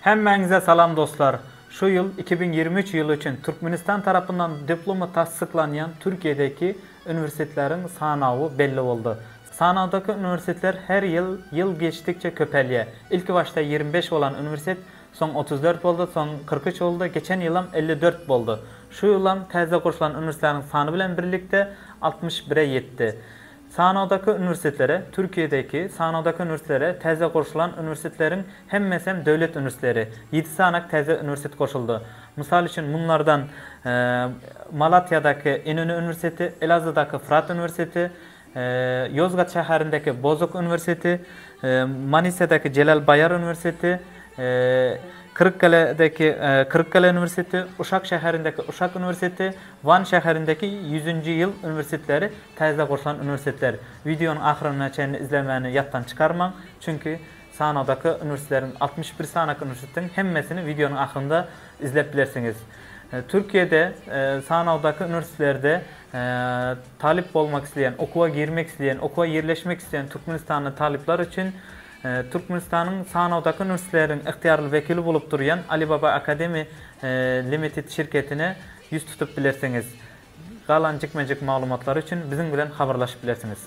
Hemmäňize salam dostlar! Şu ýyl iki müň ýigrimi üç ýyly üçin Türkmenistan tarapyndan diplomy tassyklanýan Türkiýedäki uniwersitetleriň sanawy belli boldy. Sanawdaky uniwersitetler her ýyl ýyl geçdikçe köpelýär. Ilki başda ýigrimi beş bolan uniwersitet soň otuz dört boldy, soň kyrk üç boldy, geçen ýylam elli dört boldy. Şu ýylam täze gurşlan uniwersitleriň sany bilen birlikde altmyş bire ýetdi. Sanawdaky uniwersitetlere Türkiýedäki sanawdaky uniwersitlere täze goşulan uniwersitetleriň hemmesem döwlet uniwersitleri. Ýedi sanak täze uniwersitet goşuldy. Mysal üçin munlardan Malatýadaky Inonu uniwersiteti, Elazığdaky Fırat uniwersiteti, Ýozgat şäherindäki Bozok uniwersiteti, Manisadäki Jelal Baýar uniwersiteti, Kyrykgaledäki Kyrykgale uniwersiteti, Uşak şäherindäki Uşak uniwersiteti, Wan şäherindäki ýüzünji ýyl uniwersitetleri täze gurlan uniwersitetler. Wideonyň ahyryna çenli izlemäni ýatdan çykarmaň, çünki sanakdaky uniwersitetleriň altmyş bir sanaky uniwersitetiň hemmesini wideonyň ahyrynda izlep bilersiňiz. Türkiýede sanakdaky uniwersitetlerde talyp bolmak isleýän, okuwa girmek isleýän, okuwa ýerleşmek isleýän türkmenistanly talyplar üçin Türkmenistanyň sanawdaky nursleriň ygtyýarly wekili bolup durýan Alibaba Academy Limited şirketine ýüz tutup bilersiňiz. Galan jikme-jik maglumatlary üçin biziň bilen habarlaşyp bilersiňiz.